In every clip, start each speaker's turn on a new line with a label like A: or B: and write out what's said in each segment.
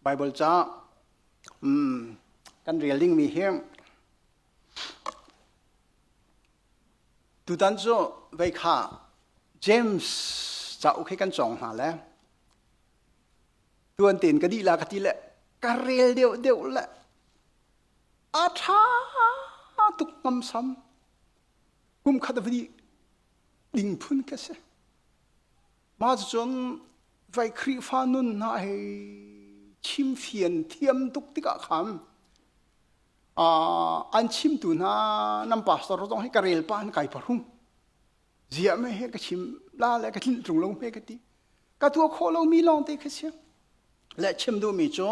A: Baibal ca kan rel dingmi hi tutan cu vei kha James cauk hi kan cawng hna le tuan tein ka dih la ka ti le ka rel deuhdeuh le a ṭha tuk ngamsam kum khat a va dih ding phun ka si. Mah cucun vai Khrihfa nun hna he chimfian thiam tuk tikah khan uh, an chimtu hna nan pastor zong hi ka relpa an kai pahrum zia me he ka chim la le ka tlinh tlung lo me ka ti ka tua kho lo mi lawng te kha sia le chim du mi cu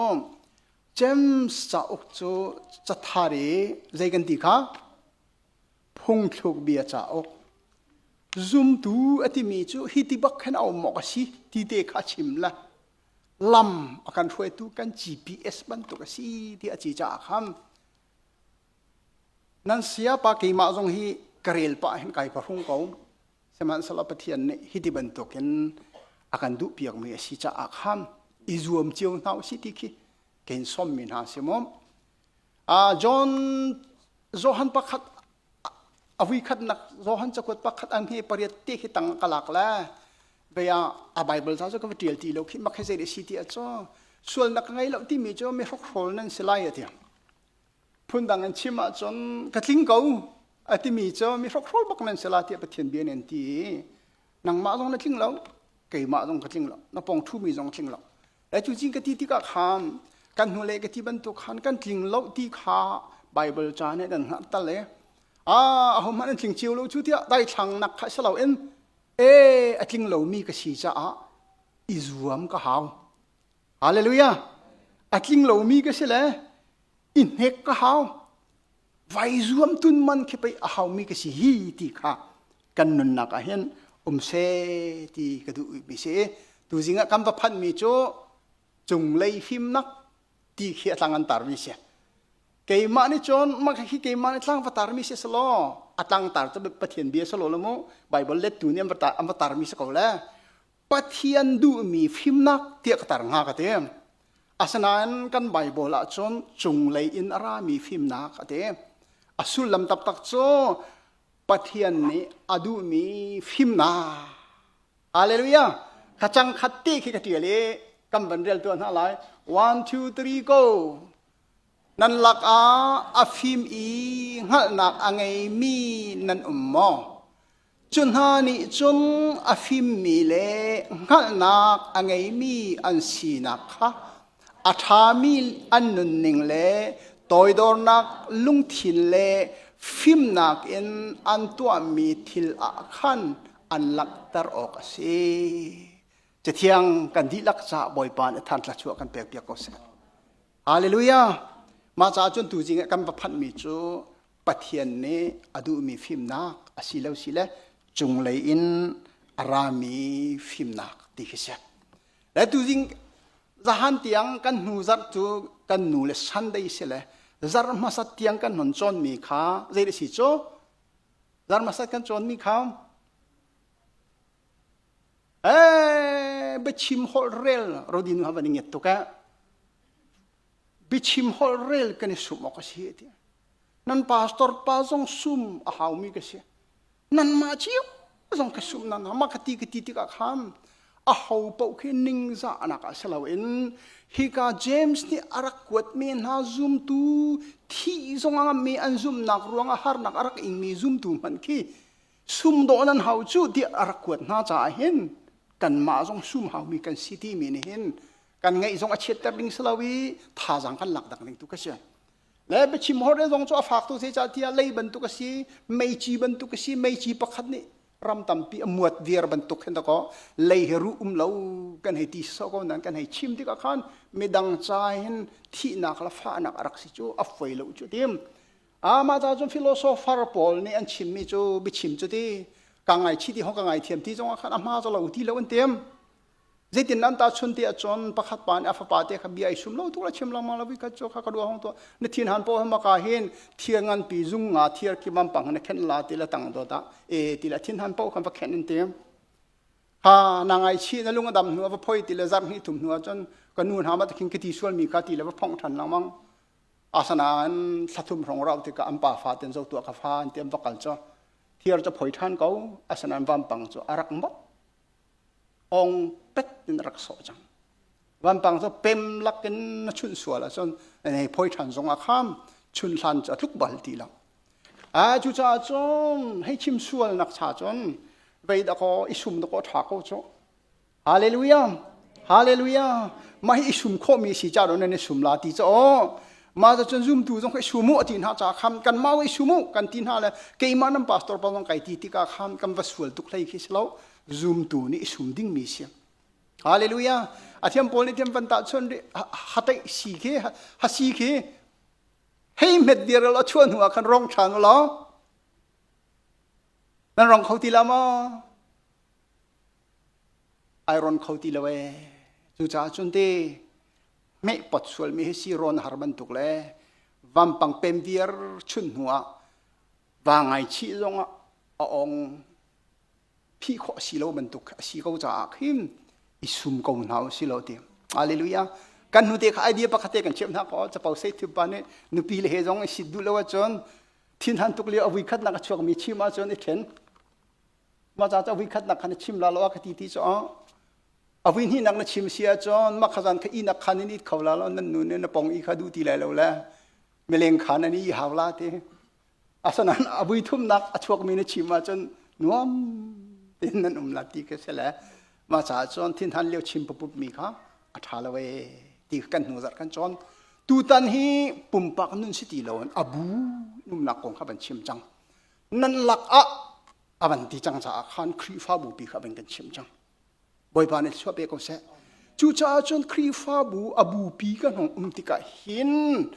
A: James cauk cu cathar i zei kan ti kha Phungthlukbia cauk zumtu a timi cu hi ti bak khan a um awk a si ti te kha a chim la lam a kan hruaitu kan GPS bantuk a si ti a ci caah khan nan sia pa keimah zong hi ka rel pa hin kai pa hung ko sihmanhsehlaw Pathian nih hi ti bantukin a kan duh piakmi a si caah khan i zuam cio hna u si ti khi kein sawmmi hna si maw John Johan pakhat a vuikhatnak Johan cakuat pakhat an he pariat te khi tang ka lak le bei ah a Bible ca cu ka va tial ti lo khi mak he zei si ti a cu sualnak ka ngei lo timi cu mi hrokhrawl nan si lai a ti phundang in chim ahcun ka tling ko a timi cu mi hrokhrawl bak nan si la tiah Pathian bia nih an ti nangmah zong na tling lo keimah zong ka tling lo na pong ṭhumi zong tling lo Lai cu cin ka ti tikah khan kan hnulei ka ti bantuk khan kan tling lo ti kha Baibal ca nih nan hngalh tal e a ahohmanh an tling cio lo cu tiah daithlang nak kha si loin e a tling lomi ka si caah i zuam ka hau hallelujah a tling lomi ka si le i hnek ka hau vai zuam tun man khi pei a haumi ka si hi ti kha kan nunnak ah hin um se ti ka duh mi si tu zing ah kan va phanh mi cu cunglei fimnak ti khi a tlang an tar mi si keimah nih cun mah khi keimah nih tlang va tar mi si selaw a tlang tar cu pathian bia salo le mu bible let tu nih an va tar mi si ko le Pathian duhmi fimnak tiah ka tar nga ka ti. Asinain kan Baibal ah cun cunglei in a rami fimnak a ti. A sullam taktak cu Pathian nih a duhmi fimnak. Hallelujah! Ka cangkhat te khi ka ṭial i kan van rel tuah hna lai. One, two, three, go! Nan lakah a fim i hngalhnak a ngeimi nan um maw? Cu hna nih cun a fimmi le hngalhnak a ngeimi an sinak kha a ṭhami an nunning le toidornak lungthin le fimnak in an tuahmi thil ah khan an langhter awk a si. Cathiang kan dihlak caah Bawipa nih thantla chuah kan pekpiak ko seh. Halleluja! Mah caah cun tuzing ah kan va phanhmi cu Pathian nih a duhmi fimnak a si lo si le cunglei in a rami fimnak ti khi si. Le tu ding zahan tiang kan hnu zarh cu kan nu le Sunday si le zarh hmasat tiang kan hon cawnmi kha zei si cu zarh hmasat kan cawnmi kha eh biachim hol rel rodin ha van nget tuk eh biachim hol rel kan i sum awk a si ti Nan pastor pa zong sum a haumi ka si. Nanmah cio zong ka sum na na ma ka ti ka ti tikah khan a ho paoh khi ningzah anak ah si loin hika James nih a rak kuatmi hna zumtu thi zong ah mi an zumnak ruangah harnak a rak ingmi zumtu hmanh khi sum dawh nan hau cu tiah a rak kuat hna caah hin kanmah zong sum haumi kan si timi nih hin kan ngaih zong a chiatter ding si lo i thazaang kan lak dak ning tu ka si. le biachim horde zong cu a faktu se ca tiah lei bantuk a si meici bantuk a si meici pakhat nih ram tampi a muat viar bantuk khin ko lei he ru um lo kan hei ti so ko nan kan hei chim tikah khan midang ca hin thihnak la fahnak a rak si cu a foi lo cu tim amah ta cun philosopher pawl nih an chimmi cu biachim cu ti ka ngai chi ti hong ka ngai thiam ti zongah khan a hma cu lo ti lo an tim Zeitin nan ta chun te achon pakhat pa nih a fapa te kha bia ai sum lo tuk la chim langmang lo vi khat chu kha ka duwa hong to na thin han po hama ka hin thier ngan pi zung nga thier ki mam pang na khen la ti la tang do ta e ti la thin han po khan va khen in tem ha na ngai chi na lung adam hnu va phoi ti la zam hi thum hnu chon ka nu na ma takin kiti sual mi kha ti la va phong than langmang asana an thlathum rong rau ti ka am pa fa ten zo tua ka fa an tem va kal cho thier cho phoi than ko asanan vam pang cho arak mot ong pet in rak sawh cang vampang cu pem lak in na chunh sual ahcun na hei phoi ṭhan zong ah kham chun hlan cu a tluk bal ti lo a cucaah cun hei chim sual nak cha cun vei dakaw i sum dakaw ṭha ko cu hallelujah hallelujah mah hi i sum khawhmi si ca don nan i sum la ti cu aw ma za cun zumtu zong ka sum u ati hna ca kham kan ma i sum u kan ti hna le keimah nan pastor pa zong kai ti tika kham kan va sual tuk hlei khi si lo zumtu nih i sum ding mi siam hallelujah a thiam paul nih thiam van ta chun ri hatei si khi hasi khi hei met dir lo chuan hnu khan rong than lo nan rong kho ti la ma ai ron kho ti lo ee cucaah cun ti meh pot sualmi hi si rawn har bantuk le vampang pem viar chun hnu ah va ngai chih zong ah a ong phi khawh si lo bantuk a si ko caah khin i sum ko hna u si lo ti hallelujah kan hnute kha idea pakhat kan chep hna ko capo sei thiu pa nih nupi le he zong i sit duh lo ahcun thin han tuk lio avui khat nak a chuak mi chim ahcun i ṭhen maca ca vui khatnak khan na chim la law a ka ti ti cu a vui hnih nak na chim si ahcun mah khazan kha inak khan in it kho la law nan nu nih na pong i kha duh ti lai lo le mileng khan an i hau la ti asanan a vui thumnak a chuakmi na chim ahcun nuam in nan um la ti ka si le mah caah cun thin han leo chim pupup mi kha a ṭha lo e ti kan hnu zat kan cawn tutan hi pumpak nun si ti lo a bu numnak kong kha ban chim cang nan lak ah a van ti cang caah khan Khrihfabu pi kha van kan chim cang Bawipa nih chuah pe ko seh cucaah cun Khrihfabu a bupi ka hnong um tikah hin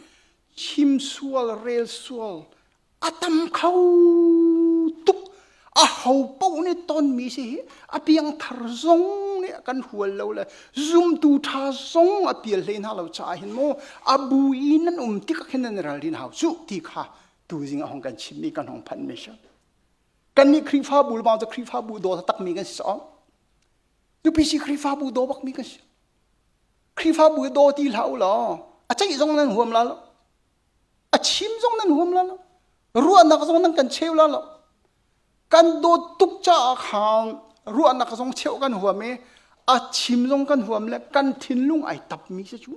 A: chimsual relsual a tam kho tuk a ho paoh nih tonmi si hi a piangthar zong nih kan hual lo le zumtu ṭha zong a pial hlei hna lo caah hin mu a bu i nan um tikah khin nan ralrin hau cuh ti kha tu zing ahong kan chim mi kan hong phan mi sha kan nih khrifa bu ma khrifa bu do tak mi kan si so pisi khrifa bu do bak mi kan si khrifa bu do ti la u lo a chai zong nan huam la lo a chim zong nan huam la lo ruahnak zong nan kan cheu la lo kan do tuk cha khang ruahnak zong cheu kan huam e a chim zong kan huam le kan thinlung ai tap mi se chu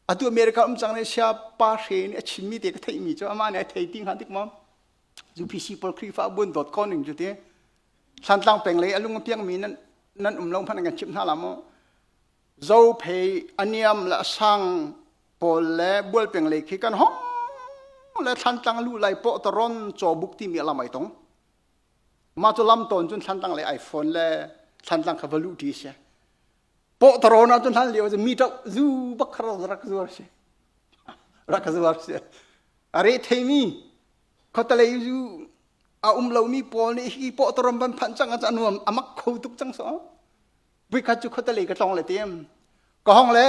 A: Atu America um cang ne sia pa hre nih a chimmi te ka theihmi cu amah nih a thei ti hnga dik maw? Cu PC pawl Khrihfa buan.com ning cu ti Thlantlang peng lei a lung a piangmi nan nan um lo hmanh an kan chimh hna la maw? Zophei, Aniam le Asang pawl le Bual peng lei khi kan hong le Thlantlang lu lai pawhtaron cawbuk timi a lam ai tong. Mah cu lam tawn cun Thlantlang lei iPhone le Thlantlang kha va luh ṭi a si. Pawh tarawn ah cun hlan lio cu mi ṭo zu bak kha rak zuar si. Rak zuar si. A re theimi khuatalei zu a um lomi pawl nih hi pawh taron van phanh cang a nuam a mak kho tuk cang so. Puikhat cu khuatalei ka tlong le tem. Ka hong le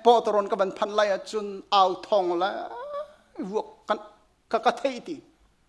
A: pawh taron ka van phanh lai ah cun au thong le vuak ka ka thei ti.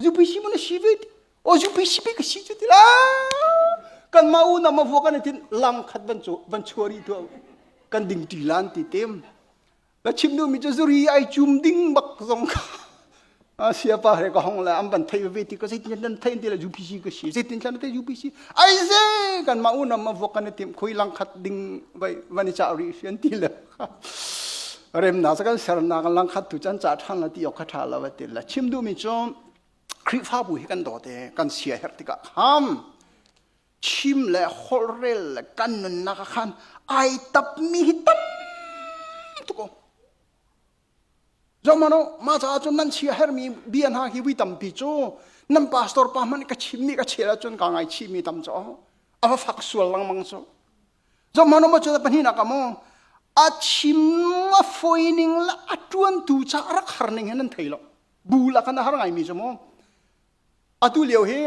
A: UPC mu na si ve o UPC pe ka si cu ti la kan ma unam avua kan tin lam khat ban chu ban chuari tu kan ding ti lan ti tem ba chim nu mi chu zuri ai chum ding bak zong ka sia pa re ka hong la am ban thai ve ti ka sei tin nan thai ti la UPC ka si sei tin san te UPC ai ze kan ma unam avua kan tim khoi lang khat ding vai vani cha ri fian ti la remnak cu kan sernak langkhat tu can cah ṭhan le ti awk kha ṭha lo a ti le chim duhmi cu Khrihfabu hi kan dawt i kan siaherh tikah khan chim le holhrel le kan nunnak ah khan ai tapmi hi tam tuk Zomano ma caah cun nan chia hermi bia hna hi vui tampi cu nan pastor pa hmanh ka chimmi ka chel ahcun ka ngaichihmi tam cu a va fak sual langmang cu Zong hmanu maw cu pahnihnak ah maw a chim a foi ning la a tuantu ca rak har ning hin an thei lo bu la khan a har ngai mi cu maw atu lio hi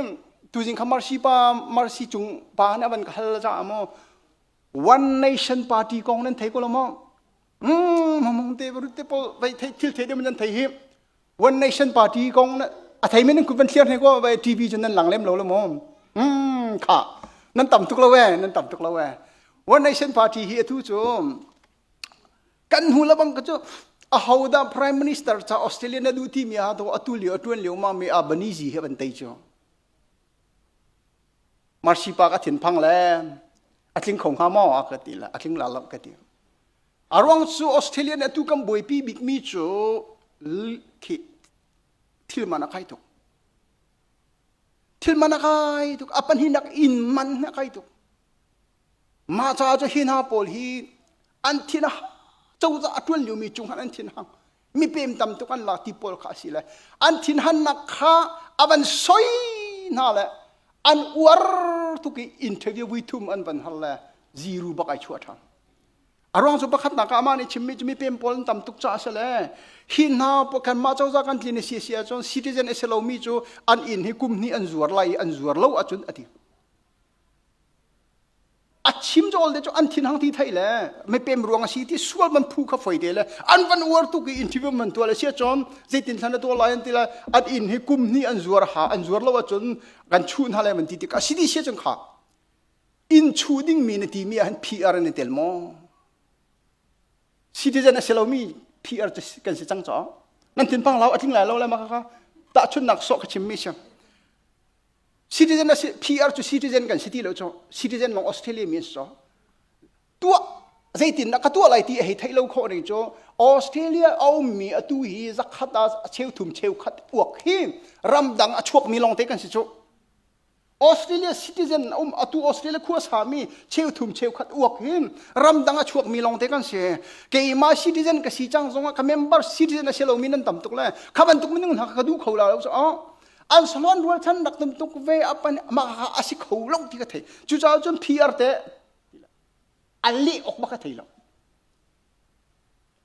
A: tuzing kha marsi pa marsi cung pa han avan ka hal ca ah maw one nation party kong nan thei ko lo maw mamung te te pol vai thei thil thei de man thei hi one nation party kong a thei men ku van thlir ne ko vai tv chen nan lang lem lo lo mo mm kha nan tam tuk lo we nan tam tuk lo we one nation party hi athu chu kan hu la bang ka chu a hoda prime minister cha australia na du ti mi ha to atul yo atun liu ma mi albanizi he ban tai chu Marsipa ka thinphang le a tling kho hnga maw a ka ti le a tling la lo ka ti. A ruang cu Australian atu kan buaipi bikmi cu khi thil man a kai tuk. Thil man a kai tuk. A pahnih nak in man a kai tuk. Mah caah cu hi hna pawl hi an thin a cozah a ṭuan liomi cung han an thin hang. mi pem tam tuk an la ti pawl kha a si le an thinhannak kha avan soi hna le an uar tuk i interview vui thum an van har le ziru bak ai chua than aruang cu pakhat nak amah nih chimmi cu mi pem pawl an tam tuk ca se le hi hna kan mah cozah kan tlin si si ahcun citizen ase lomi cu an inn hi kum hnih an zuar lai i an zuar lo ahcun a ti a chim chawl te cu an thin hang thi thai le me pem ruang asi ti sual man phu kha foi te le an van uar tu ki interview man to le sia chon zeitin thana to lai an ti la at in hi kum ni an zuar ha an zuar lo chun kan chu na le man ti ti ka si di sia chun kha in chu ding mi na ti mi han PR ne tel mo citizen a selo mi PR kan si chang cho nan tin pang lau atling lai lo le ma ka ta chun nak so ka chim mi sia Citizen a si, PR cu citizen kan si ti lo cu. Citizen Long Australia means so. Tuah zeitin dah ka tuah lai ti a hei theih lo khawh ning cu Australia a ummi atu hi zakhat ah a cheu thum cheu khat uak hi ramdang a chuakmi lawng te kan si cu. Australia citizen um atu Australia khua sami cheu thum cheu khat uak hi ramdang a chuakmi lawng te kan si. Keimah citizen ka si cang zongah ka member citizen a si lomi nan tam tuk le kha bantuk minung hna kha ka duh kho la lo cu. an salon rualchan rak tam tuk ve apan mah ha asi kho lo ti ka thei cucaah cun PR te an leh ok ba ka thei lo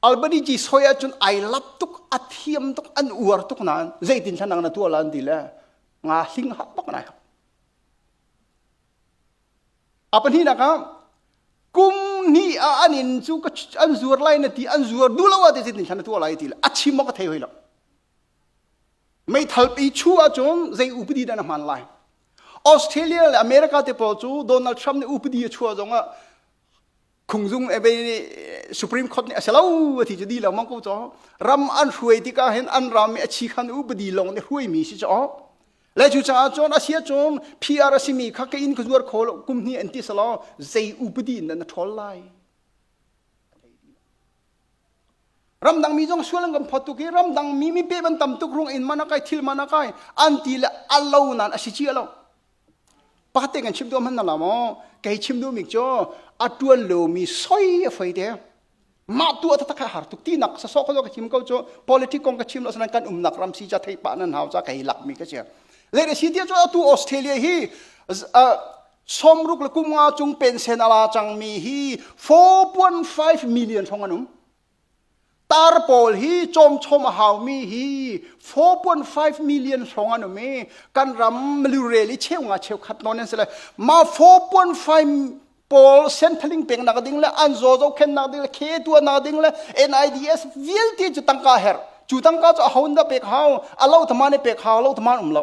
A: Albany ji soi ahcun ai lap tuk a thiam tuk an uar tuk nain zeitin thlanang na tua lan ti le nga hling hak bak nai apan hi nak ah kum ni a anin cu ka an zuar lai na ti an zuar du lo wa te zeitin thlan na tua lai ti le a chim ma ka thei hoi lo Meithalpi chu ahcun zei upadi dah na hman lai? Australia le America te pawl cu Donald Trump nih upadi a chuah zongah Khungzung Abbey nih Supreme Court nih a si lo a ti cu di lengmang ko caw. Ram an hruai tikah hin an ram i a chi khan upadi lawng nih hruaimi si caw. Le cu caah cun a si cun PR a simi kha ka inn ka zuar kho lo kum hnih an ti selaw zei upadi in dah na ṭhawl lai? ramdang mi zong sual an kan phawt tuk i ramdang mi mi pe ban tam tuk rung in mana kai thil mana kai an ti le alo nan a si chi lo pate kan chim du man na mo kei chim du mi cho atuan lo mi soi a fai te ma tu ta tak har tuk ti nak sa so ko ka chim ko cho politic kong ka chim lo sanan kan um nak ram si cha thei pa nan hau cha kai lak mi ka che le si ti cho tu australia hi Sawmruk le kum nga cung pensen a la cangmi hi 4.5 million hrawng an um. Tar pawl hi cawmchawm a haumi hi 4.5 million hrawng an um i kan ram lurel i cheu nga cheu khat non an si le ma 4.5 pawl senthaling peng nak ding le an zo zo khen nak ding le khe tua nak ding le NIDS vialte cu tangka her cu tangka cu a hon da pek hau a lo thama ne pek hau lo thama um lo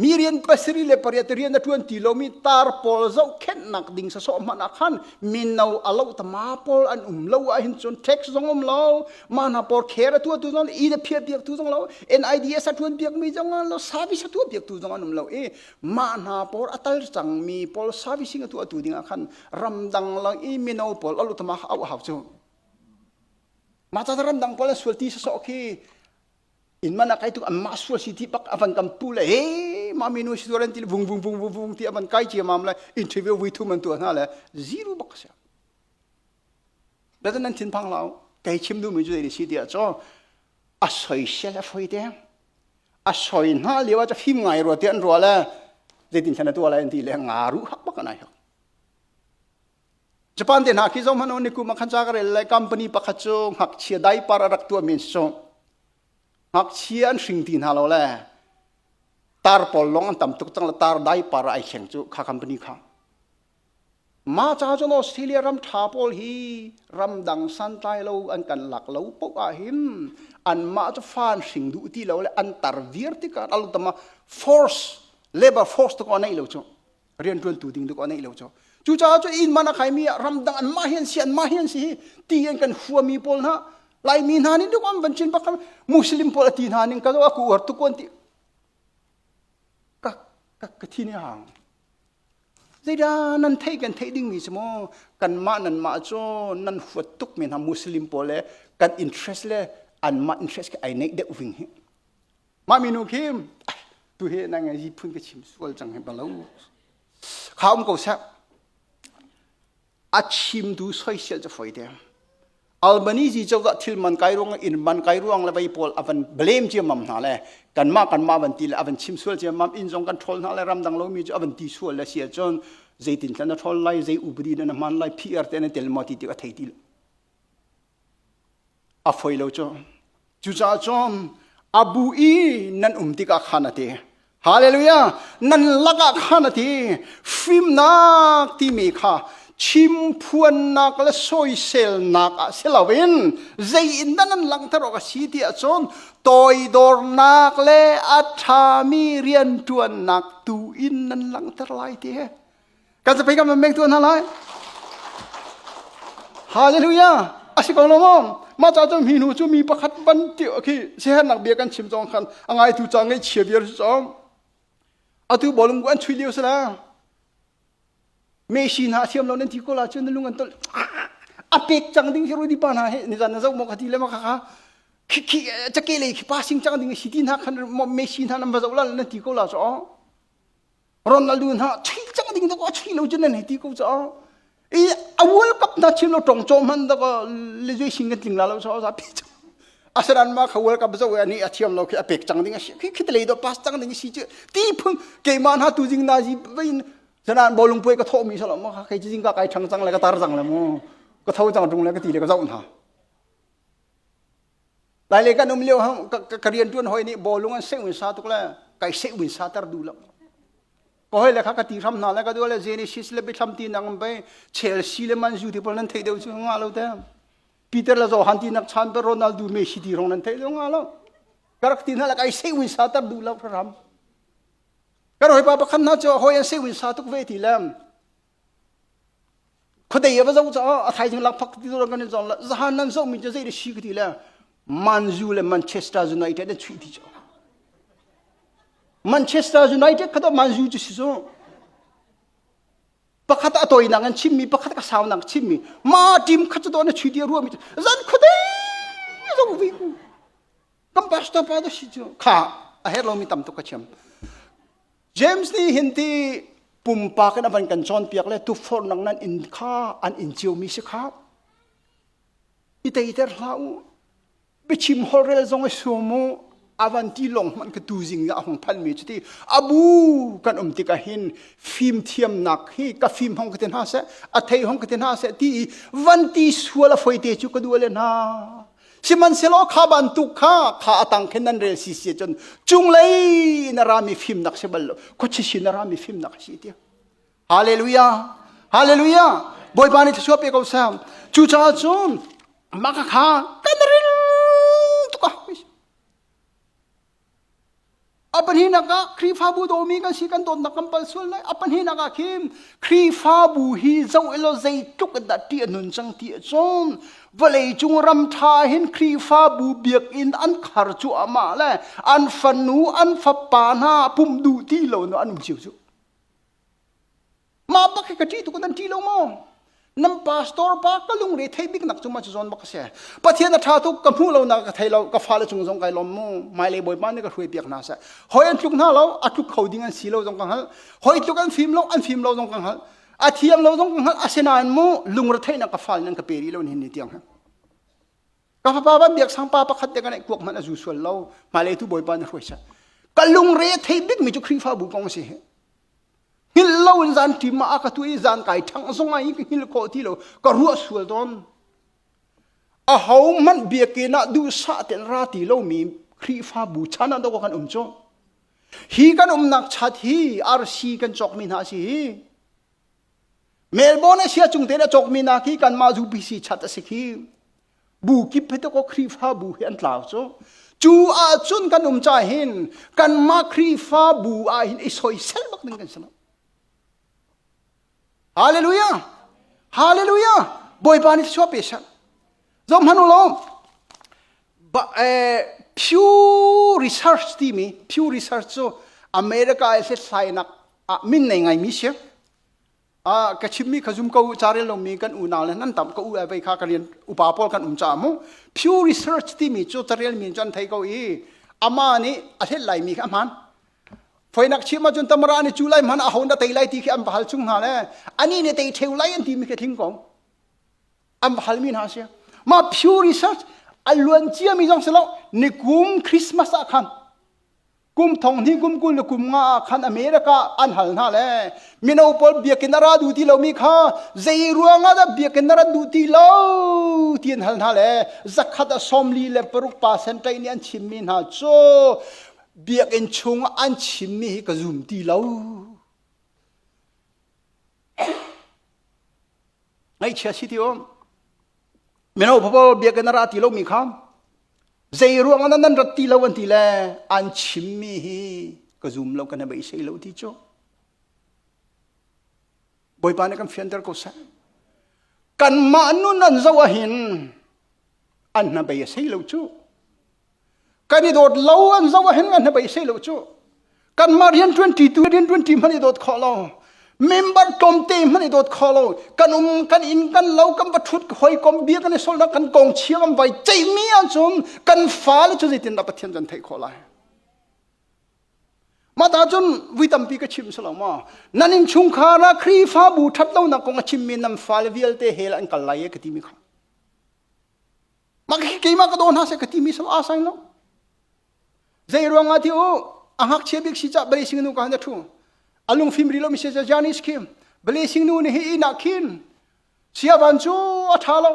A: Mi rian pasiri le pariat rian a ṭuan ti lomi tar pawl zohkhenhnak ding sasawh hmanh ah khan mino a lo tama pawl an um lo ahhin cun tax zong um lo mah hna pawl care a tuahtu zong i le phiar piaktu zong lo NIDS a ṭuan piakmi zong an lo service a tuah piaktu zong an um lo i mah hna pawl a tal cangmi pawl servicing a tuahtu ding ah khan ramdang lang i mino pawl a lo tama au hau cu mah ca ramdang pawl a sualti sasawh khi in man akai tu anmah sual si ti bak avan kan pu le he mami nu sidoran ti vung vung vung vung vung ti avan kai cia mam le interview vui thu man tu hna le zero bak sia betan nan thin phang lao kei chim du mi ju ni si dia cho a soi se la foi te a soi na liwa cha phim ngai ro te an ro le zetin khana tu ala en ti le nga ru hak bak anai ho Japan te hna khi zohhmanh u nikum ah khan ca ka rel lai company pakhat cu ngakchia daipar a rak tuahmi an si cu ngakchia an hring ti hna lo le tar pawl lawng an tam tuk cang le tar daipar ah ai thleng cu kha company kha mah caah cun australia ram ṭha pawl hi ramdang santlai lo an kan lak lo poh ahhin anmah cu fa an hring duh ti lo le an tar viar tikah alutama force labor force tu kong a neih lo cu rian ṭuantu ding duk a neih lo cho cucaah cu in man a khaimi ah ramdang an mah hi an si an mah hi an si hi ti an kan huami pawl hna laimi hna nih duk am van chin bakal muslim pawl a ti hna ning ka zo a ku uar tukuan ti ka ka ka thi ne hang zeida nan thei kan thei ding mi si mo kan mah nan mah cho nan huat tuk mi hna muslim pawl le kan interest le an mah interest ke ai neik deuh ving hi mah minu khi tu he nang ngai phun ka chim sual cang he balo kha um ko sek a chimtu soisel ca foite Albanizi chawka thil man kai ruang in man kai ruang le vai pawl avan blame chia mam hna le kan ma kan ma van ti le avan chim sual chia mam in zong kan troll hna le ram dang lomi chu avan ti sual le sial chon zeitin tlan a troll lai zei upadi na man lai pr te na tel mo ti ti a thei ti a foi lo cu cucaah cun a bu i nan um tikah khan a ti haleluya nan lakah khan a ti fimnak timi kha chimphuannak le soiselnak ah si loin zei in dah nan langhter awk a si ti ahcun toidornak le a ṭhami rianṭuannak tu in nan langhter lai ti hi kan sapei kan van meng tuah hna lai hallelujah a si ko lo maw mah ca cun hi hnu cu mi pakhat ban ti khi siahernak bia kan chim cong khan a ngaitu ca ngaihchia bia si cong atu bolum gu an chui lio sala me shi na thiam lo nan ti ko la cun lung an tol a pek cang ding hi rudi pa na he ni zan na zau mo ka ti le ma ka ka khi khi chake le khi passing chang ding si ti na khan me shi na nam ba zau la nan ti ko la so Ronaldo hna chei cang ding dek a chei lo cun an hei ti ko caah i a world cup hna chim lo tong chom han dek le zui sing kan tling la lo sa sa pi cang asaran ma kha world cup zo ani a thiam lo khi a pek cang ding a si khi khit lei do pass cang ding si chứ ti phung keima na tu jing na ji vein sanan bolung pue ka tho mi salo ma kha kai jing ka kai thang cang le ka tar cang le mu ka tho cang tung le ka ti le ka zau na Lai le kan um lio ka riantuan hoi nih bawlung an seun sa tuk le kai seun sa ter duh lo. Ka hoi le kha ka ti hram hna le ka dual le Genesis le bithlam ti nak an bai Chelsea le Man U ti pal nan thei deuh cu nga lo te. Peter le Johan ti nak chan pe Ronaldo Messi ti rong nan thei lo nga lo. Ka rak ti hna le kai seun sa ter duh lo hram. Ka hoi pa pakhat hna cu hoi an seun sa tuk ve ti le Khuadei a va zo caah a thaizing lakphak ti zong kan in zong le zahan nan zohmi cu zei le si ka ti le Man U le Manchester United an chuih ti cu Manchester United kha to Man U cu si cu pakhat a tawinak in chimmi pakhat ka saunak chimmi ma team kha cu to na chuih ti a ruami cu zan khuadei zo vi ku kan pastor pa da si cu kha a her lomi tam tuk ka chiam James nih hin ti pumpak in a van kan cawnpiak le tuforh nang nan in kha an in ciomi si khap i teiter hlah u biachim holrel zong i sum u a van ti lawng hmanh ka tu zing ah a hung phanmi cu ti abu kan um tikah hin fim thiamnak hi ka fim hong ka ti hna seh a thei hong ka ti hna seh ti i van ti sual a foite cu ka duh le hna Sihmanhsehlaw kha bantuk kha kha a tang khin nan rel si si cun cunglei na rami fimnak si bal lo khuachi sin na rami fimnak a si ti Hallelujah Hallelujah Bawipa nih thluachuah pe ko sam cucaah cun maka kha kan ril A pahnihnak ah Khrihfabu dawmi kan si kan dawtnak kan pal sual lai. A pahnihnak ah khin Khrihfabu hi zoh elaw zeitluk in dah ṭih a nun cang ti ahcun vawleicung ram ṭha hin Khrihfabu biakinn an khar cuahmah le an fanu, an fapa hna pumh duh ti lo no an um cio cuh. mah bak hi ka ṭih tuk nan ṭih lo maw nan pastor pa ka lungre thei bik nak cu ma cu zawn bak a si pathian a ṭha tuk ka hmuh lo nak ka thei lo ka fale cung zong kai lawm mu hmailei bawipa nih ka hruai piak hna seh hoi an tluk hna lo a tluk kho ding an si lo zong ka hngalh hoi tluk an fim lo an fim lo zong ka hngalh a thiam lo zong ka hngalh asinain mu lungre theihnak ka fal nan ka pe rih lo hin ni tiang ha ka fapa ban biak sang pa pakhat te ka nei kuak man a zu sual lo hmailei tu bawipa na hruai sa ka lungre thei bik mi cu khrifa bu kong si hi Hngilh loin zan ṭim ah a ka tuah i zan kai ṭhangh zong ah ka hngilh khawh ti lo. Ka ruah sual tawn. Aho hmanh biakinn ah duhsah tein ra ti lomi Khrihfabu chan ah dok kan um cu. Hi kan umnak chat hi RC kan cawkmi hna a si hi. Melbourne Asia cung te a cawkmi hna khi kanmah zu PC chat a si khi. bu kip phe to khrihfabu hi an tlau cu cu ahcun kan um ca hin kanmah khrihfabu ah hin i soisel bak ding kan si lo hallelujah hallelujah bawipa nih thluwa pe sang zom hanu lo ba eh, Pew Research timi Pew Research cu America i hlethlainak ah min nei ngai mi si Ah ka chimmi kha zum ko u ca rel lomi kan unau le nan tam ka u ai vei kha ka rian upa pawl kan um caah mu Pew Research timi cu carelmi in cun an thei ko i amah nih a hlet laimi kha a hman Foinak chim ahcun tamara nih cu lai hman a ho na tei lai ti khi an va hal chung hna le ani nih tei theu lai an timi khi thing kong an va halmi hna si mah Pew Research a luancia mi zong si lo nikum Christmas ah khan kum thong hnih kum kul le kum nga ah khan America an hal hna le mino pawl biakin a ra duh ti lomi kha zei ruangah dah biakin a rat duh ti lo ti an hal hna le zakhat a sawmli le paruk percent ṭai nih an chimmi hna cu biakin chung an chimmi hi ka zum ti lo ngaihchia si ti um mino papal biakinn a ra ti lomi kha zei ruang ah nan rat ti lo an ti le an chimmi hi ka zum lo kan hei sei lo ti cu bawipa nih kan fianter ko seh kan mah nun an zo ahin an hnabei a sei lo cu kan i dawt lo an zoh a hen ngan he bei se lo cu kanmah rian ṭuanṭi tu rian ṭuanṭi hmanh i dawt khawh lo member tlawmte hmanh i dawt khawh lo kan um kan inn kan lo kan va ṭhut ka hawikom bia kan i solnak kan kong chia kan vai ceihmi ahcun kan fale cu zeitindah Pathian kan theih khawh lai mah ta cun vui tampi ka chim selo maw nan in chungkhar ah khrihfabu ṭhat lonak kong a chimmi nan fale vialte he la an kal lai ka timi kha mah khi keimah ka daw hna seh ka timi sau a sai lo zei ruangah ti u a hngakchia bik si cah bale singnu ka han thu alung phim ri lo mi se janis kim bale singnu ni hi ina khin siavan cu a tha lo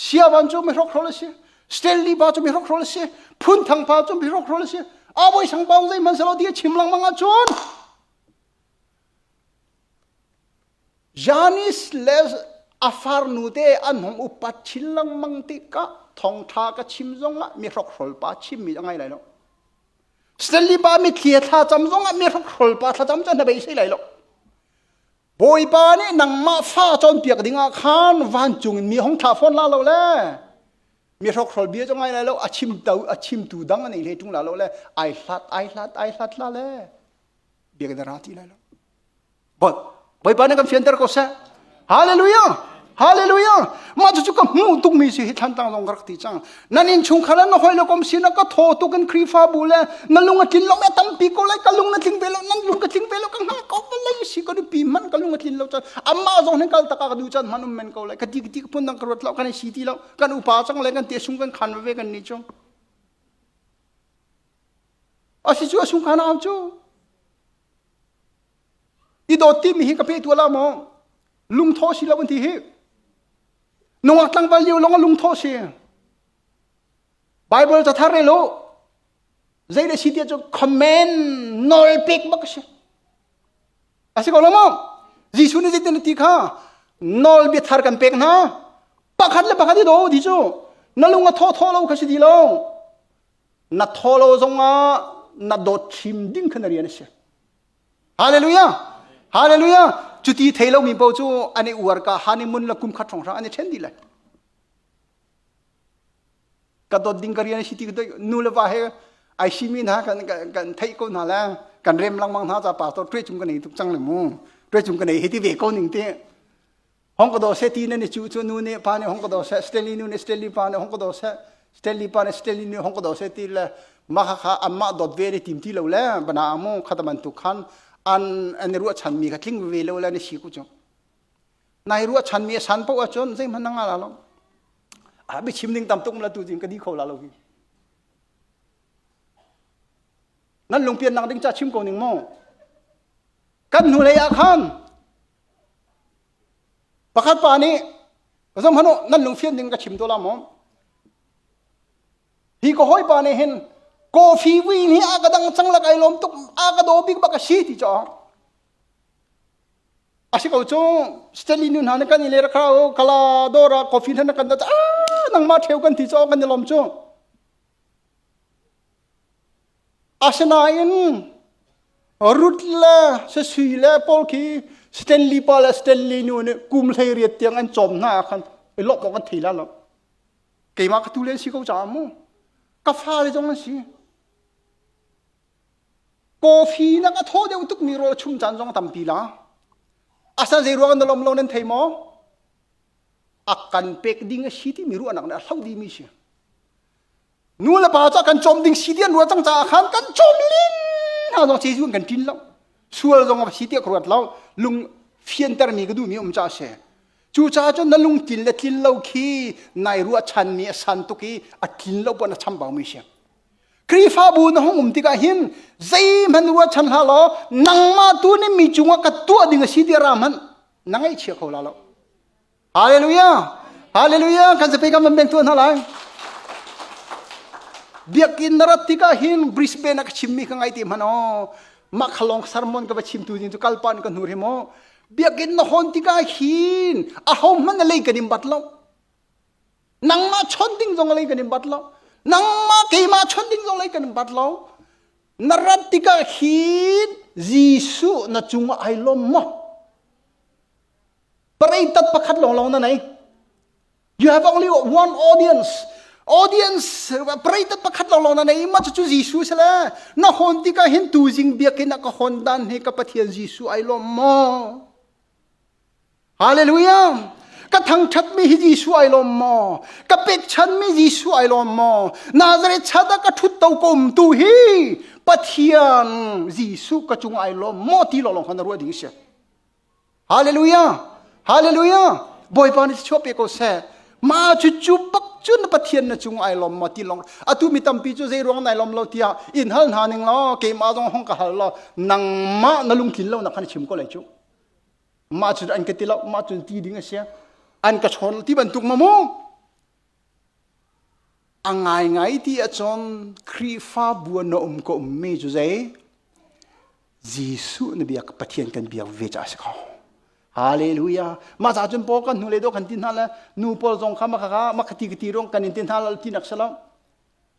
A: siavan cu mi hrok rol si stanley ba cu mi hrok rol si phun thang pa cu mi hrok rol si a boi sang paung zei man salo dia chim lang manga chun Janis le a farnute an hung upat chin lengmang tikah thawngṭha ka chim zongah mihrokhrol pa chimmi a ngai lai lo. Stanley pa mithlia thlacam zongah mihrokhrol pa thlacam cu na beisei lai lo. Bawipa nih nangmah fa cawnpiak dingah khan vancung in mi hong thlah fawn la lo le mihrokhrol bia cu ngai lai lo a chimtu a chimtu dang a nei hlei ṭung la lo le ai hlat ai hlat ai hlat la le biak na ra ti lai lo but bawipa nih kan fianter ko seh hallelujah hallelujah mah cu ka hmuh tukmi si hi thlan tang zong ka rak ti cang nan in chung khan na hoi lo kom sin ka tho tuk in khrifabu le na lung a tlin lo me tampi ko lai ka lung na tling ve lo nan lung ka tling ve lo ka nga ko ka lai si ka du pi man ka lung a tlin lo chan amma zong hin kal taka ka du chan man um men ko lai ka ti ti ka pun dang ka ruat lo kan si ti lo kan upa chang le kan te sung kan khan ve kan ni chung Asicu a sungkan aam cu i dawt timi hi ka pehtuah la maw lungthaw si lo an ti hi nungak tlangval lio lawng lungthaw si bible cathar e lo zei le si tiah cu comment nawl pek bak a si a si ko lo maw jesuh nih zeitin a ti kha nawl biathar kan pek hna pakhat le pakhat i daw ti cu na lung a thaw thaw lo kha si ti lo na tholo zongah na dawt thim ding kha na rian a si hallelujah hallelujah cuti thei lomi paoh cu an i uar ka han i mun la kum khat hronghra an i ṭhen dih lai ka dawt ding ka rian a si ti nu le va he ai simi hna kan kan theih ko hna le kan rem langmang hna ca pa to tuai cung ka nei tuk cang le mu tuai cung ka nei hi ti ve ko ning ti hong ka do se ti nan i chu chu nu ne pa ne hong ka do se Stanley nu ne Stanley pa ne hong ka do se Stanley pa ne Stanley ne hong ka do se ti le ma kha kha amma dot ve le tim ti lo le bana amu khataman tu khan an an ruwa chan mi ka tling ve lo le ni si ku chu nai ruwa chan mi san po chon zai man nga la lo a bi chim ding tam tum la tu jin ka di kho la lo hi nan lungpian nak ding ca chim ko ning maw kan hnu lei ah khan pakhat pa nih ka zong hanu nan lungfian ding ka chim to la maw hi ka hoi pa nih hin coffee wi ni a ka dang chang lak ai lom tuk a ka do bik ba ka si ti cho asi ko chu Stanley nu hna ne kan ile rakra o kala dora coffee thana kan da ah nang ma theu kan ti cho kan ni lom chu Asinain Ruth le sasui le pawl khi Stanley pa le Stanley nu nih kum hleiriat tiang an cawm hna ah khan i lawmh awk an thei lai lo. Keimah ka tu le an si ko caah mu. Ka fale zong an si. Coffee na ka thawh deuh tukmi rawl chum caan zong tampi la. Asan zei ruang na lawm lo nan thei maw? A kan pek ding a si timi ruahnak nih a hloh dimi si. nu le pa cu kan cawm ding si tiah ruat cang caah khan kan cawm ling hna zong si zun kan ṭin lo sual zong a si tiah ka ruat lo lung fiantermi ka duhmi um ca se cucaah cun na lungtlin le tlin lo khi nai ruahchanmi a san tuk i a tlin lo puan a chambaumi si Khrihfabu na hung um tikah hin zeihmanh ruahchan hlah law nangmah tu nih mi cungah ka tuah ding a si tiah ra hmanh na ngaih chia kho la lo Hallelujah! Hallelujah! Kan zapi kan van beng tuah hna lai. Biakin na rat tikah hin Brisbane ah ka chimmi ka ngai ti hman o. Mah khalong sermon ka va chimtu din cu kalpa nih ka hnur hi mo. Biakin na hon tikah hin a hom hman na lei kan in bat lo. Nangmah chon ding zong lei kan in bat lo. Nangmah keimah chon ding zong lei kan in bat lo. Na rat tikah hin Jesuh na cung ai lom mo. Parei tat pakhat lawnglawng na nei. You have only one audience. Audience parei tat pakhat lawnglawng na nei. Mah cu Jesuh se le na hon tikah hin tu jing biakin ah ka hon dan he ka Pathian Jesuh ai lawm maw? Hallelujah. Ka thangthatmi hi Jesuh ai lawm maw? Ka pekchanmi Jesuh ai lawm maw? Nazareth chat ah ka thut to kom tu hi Pathian Jesuh ka cung ai lawm maw ti lawlong khan ruah ding si. Hallelujah! Hallelujah! Bawipa nih thluachuah pe ko seh. Ma cu cu bak cu na Pathian na cung ai lom maw ti long atu mi tampi cu zei ruang nai lom lo tiah in hal hna ning law keimah zong hong ka hal lo nangmah na lungtlin lo na khan chim ko lai cu ma cu an ka ti lo ma cu ti ding a si an ka chon ti bantuk ma mu A ngaingai ti ahcun Khrihfabu ah na um ka ummi cu zei? Jesuh na biak Pathian kan biak ve caah a si ko. Hallelujah. Mah caah cun paul kan hnu le do kan ti hna le nu paul zong kha maka kha maka ti ti rong kan in ti hna lo ti nak si lo.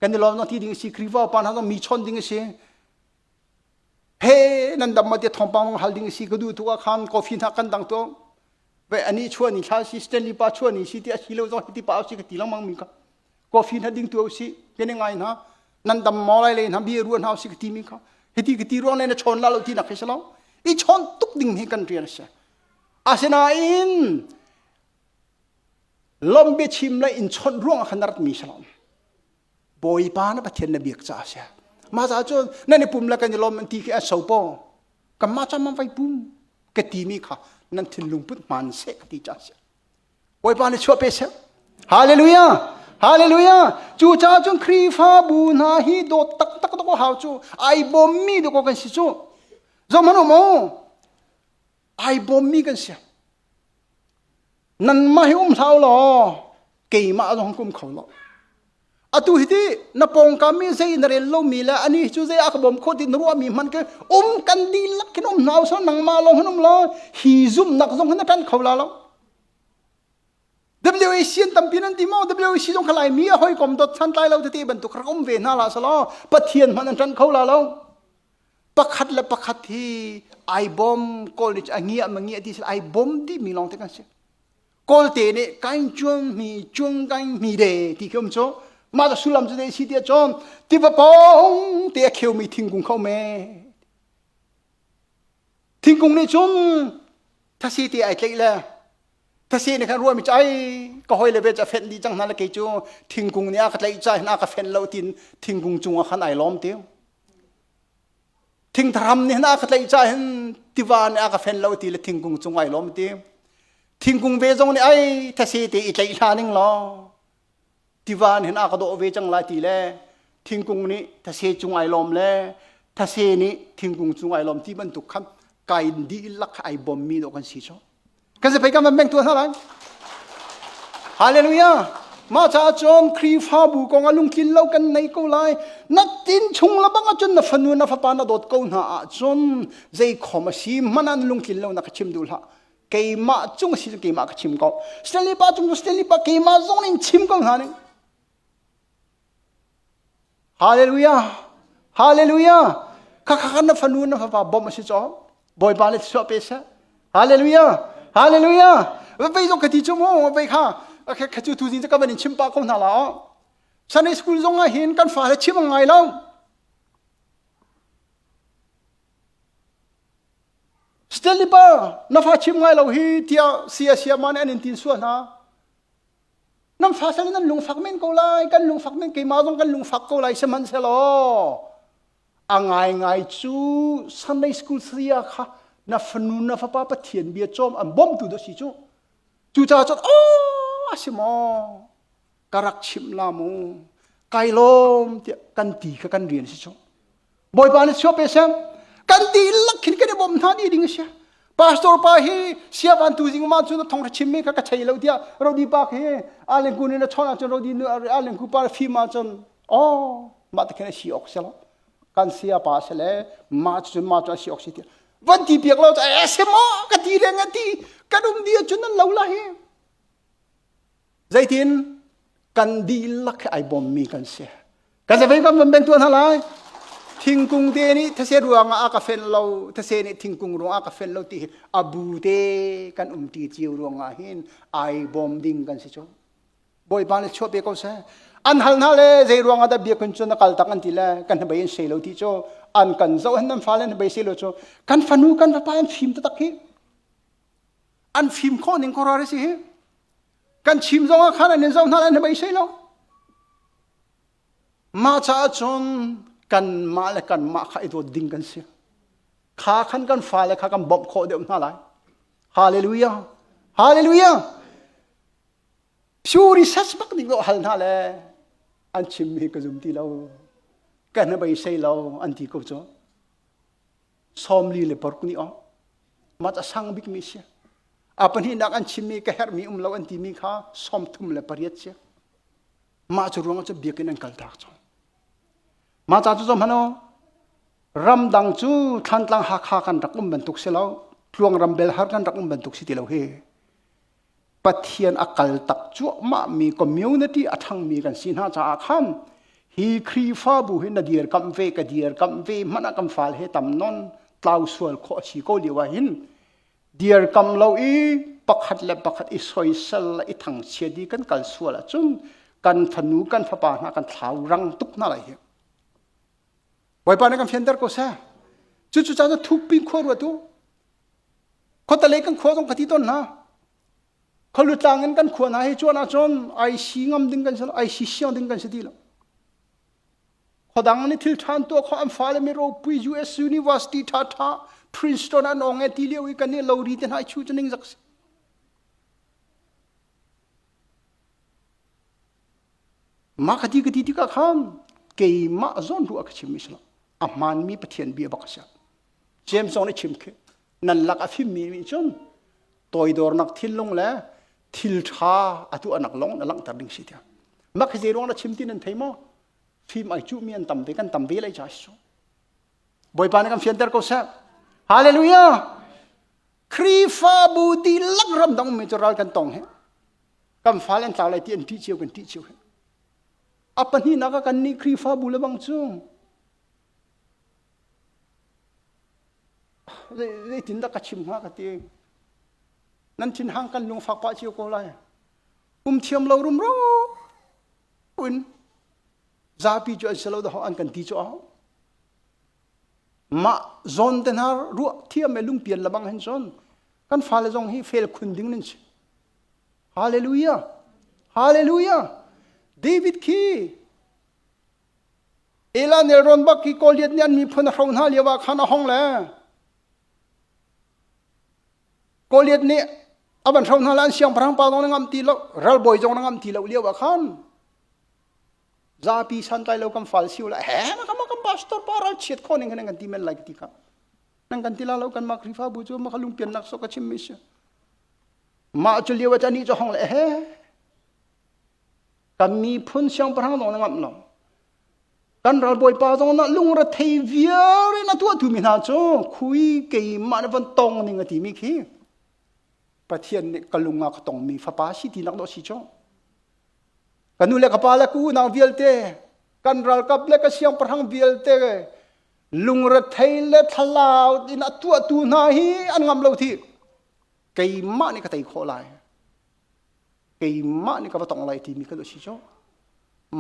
A: Kan i lawm no ti ding si Khrihfa pa hna zong mi chon ding si. he nan dam ma tia thawngpang hal ding si ka duh tu ah khan coffee hna kan dang tu ve ani chuan ni thla si stanley pa chuan ni si ti asi lo zo ti pa si ka ti langmang min ka coffee na ding tu si ke ne ngai na nan dam mo lai le na bi ruan hau si ka ti min ka hiti ka ti ruang le na chon la lo ti na khesa lo i chon tuk ding ni kan rian se asinain lombe chim la in chon ruang khanar mi salon Bawipa na Pathian na biak caah a si. Mah caah cun nan i pum le kan i lawm an ti khi an so paw. Kanmah cam an vai pum ka timi kha nan thinlung put hman seh ka ti caah a si. Bawipa nih chuah pe seh. Hallelujah! Hallelujah! Cu caah cun Khrihfabu hna hi dawt taktak dawk hau cu ai bawmmi dawk kan si cu. Zong hmanh um u. ai bawmmi kan si. Nanmah hi um hlah law keimah zong kum kho lo. Atu hi ti na pawngkam mi zei na rel lomi le ani cu zei a ka bawm kho ti na ruahmi man ke um kan di lak hin um hnaw so nangma lo hin um lo hi zum nak zong hin na tan kho la lo. WAC an tampi nan ti mo WAC zong khalai mi a hoi kom dot chan tlai lo te ti bantuk rak um ve na la salo pathian man an tan kho la lo pakhat le pakhat hi ai bom kawl ni a ngiah ma ngiah ti sel ai bom ti mi lawng te kan si kawlte ne kain chuang mi chuang kain mi de ti kum cho ma da sulam chu de si tia chom ti va pong te kheu mi thingkung khau me thingkung ni chum thasi ti ai tlei le thasi ne kan ruwa mi chai ka hoi le ve cha fen di chang na le ke chu thingkung ni a ka tlei chai na ka fen lo tin thingkung chung a khan ai lom tiu thingtharam nih na ka tlaih ca hin tiva nih a ka fen lo ti le thingkung cung ai lawm ti thingkung ve zong nih ai thase te i tlaih hla ning law tiva nih a ka dawh ve cang lai ti le thingkung nih thase cung ai lawm le thase nih thingkung cung ai lawm ti bantuk khan kai di lak ai bawmmi dawh kan si so kan se pei kan van mengtua hna lai hallelujah mah caah cun khrihfabu kong ah lungthin lo kan nei ko lai natin chung la bang ahcun na fanu na fapa na dawt ko hna ahcun zei khom a si manan lungthin lo na ka chim duh hlah keimah cung si keimah ka chim ko stanley pa cung stanley pa keimah zong nin chim ko hna ning Haleluia! Haleluia! Khakha kan na fanu na fapa bawmh a si caw Bawipa le thluachuah pe seh. Haleluia! Haleluia! Vei zong ka ti cu mu vei kha kha cu tu zing cu ka van in chim pah ko hna la aw. Sunday school zong ah hin kan fa le chim ngai lo. Stanley pa na fa chim ngai lo hi tiah sia sia ma nih an in tin sual hna. nan fa sal nan lungfak men ko lai kan lungfak men keimah zong kan lungfak ko lai sihmanhsehlaw a ngaingai cu Sunday school saya kha na fanu na fapa Pathian bia cawm an bawmtu do si cu cucaah cun aw a si maw ka rak chimh la mu kai lawm tiah kan ti kha kan rian si cu Bawipa nih suap seng kan ti lak khin kan i bawm hna ni ding a si pastor pa hi siavan tu zing ma cu na thong chim me ka ka chei lo dia rodi pa khi alen kun in a chon achon rodi nu alen ku pa fi ma chon o ma ta khen si ok selo kan sia pa se le ma chu ma chu si ok si ti van ti piak lo cha e se mo ka ti le nga ti kan um dia chun nan lo la hi Zeitin? Kan dihlak he ai bawmmi kan si. Kan safeng kan van ben tuah hna lai. Thingkung te nih thase ruangah a ka fen lo, thase nih thingkung ruangah a ka fen lo ti hi a bu te kan um ti cio ruangah hin ai bawm ding kan si cu. Bawipa nih chuah pe ko seh. An hal hna le zei ruangah dah biak kun cu na kal tak an ti le kan hnabei in sei lo ti cu an kan zoh han nan fa le hnabei sei lo cu kan fanu kan fapa an fim tatak hi an fim khawh ning khuaruah a si hi kan chim zong ah khan an in zoh hna an hmei sei lo mah caah cun kanmah le kanmah kha i dawt ding kan si kha khan kan fale kha kan bawmh khawh deuh hna lai hallelujah hallelujah pure research bak ning lo hal hna le an chimmi ka zum ti lo ka hnabei sei lo an ti ko cu sawmli le paruk ni awk mat a sang bikmi si a pahnihnak an chimmi ka herhmi um lo an timi kha sawmthum le pariat si mah cu ruang cu biak in an kal tak cang mah ca cu zom hano ramdang cu thlantlang hakha kan rak um bantuk si lo tluang rambel har kan rak um bantuk si ti lo hi Pathian a kal tak cuahmah mi community a ṭhangmi kan si hna caah khan hi Khrihfabu hi na dirkamh ve ka dirkamh ve hmanh ah kan fale he tam non tlau sual khawh a si ko lio ah hin dirkamh lo i pakhat le pakhat i soisel i thangchiat i kan kal sual ahcun kan fanu kan fapa hna kan thlau rang tuk hna lai hi. Bawipa nih kan fianter ko seh. Cucu ca cu thukpin khua ruat u. Khotale kan khua zong ka ti ton hna. Khalutlang in kan khua hna hi chuan ahcun IC ngam ding kan si IC siang ding kan si ti lo. Khodang ni thil ṭhan tuah kho an fale mi ropui US University ṭha ṭha Princeton an ong e ti lio i kan i lo ri te hna chu chu ning zak si. Mah ka ti ka ti tikah khan keimah zawn tu a ka chimmi si lo. A hmaanmi Pathian bia bak a si. James zong nih chim khi. Nan lak a fimmi nih cun toidornak thinlung le thilṭha a tuahnak lawng na langhter ding si tiah. Mah khi zei ruang na chim ti nan thei maw? Fim ai cuhmi an tam te kan tam ve lai ca si. Bawipa nih kan fianter ko seh. Hallelujah! Khrihfabu dihlak ramdang ummi cu ral kan tong hi. kan fal an tlau lai ti an ṭih cio kan ṭih cio a pahnihnak ah kan nih Khrihfabu le bang cu zeitindah ka chim hnga ka ti nan thinhang kan lung fak pah cio ko lai um thiam lo rumro in zapi cu an si lo dahawh an kan ti cu ahau mah zawn te hna ruah thiam me lungpian le bang hen son kan fale zong hi fel khun ding nan si Hallelujah! Hallelujah! David khi Ela nelrawn bak khi Goliath nih an miphun a hro hna lio ah khan a hong le Goliath nih a van hro hna la an siangpahrang pa zong na ngam ti lo ralbawi zong na ngam ti lo lio ah khan zapi santlai lo kam fal siu la he ma kam kam pastor pa ral chiat kho ning kan kan ti men lai ti ka nan kan ti la lo kan ma krifa bu chu ma khalung pian nak so ka chim mi si Mah cu lio can ni cu hong le he kan miphun siangpahrang zong na ngamh lo kan ralbawipa zong na lungrethei vialte na tuah thumi hna cu khui keimah nih van tong ning a timi khi Pathian nih ka lung ah ka tongmi fapa si ti nak dawh si cu ka nu le ka pa le ka unau vialte kan ralkap le ka siangpahrang vialte lungrethei le thlalau in a tuahtu hna hi an ngam lo thi keimah nih ka tei khawh lai keimah nih ka va tong lai timi ka dawt si cu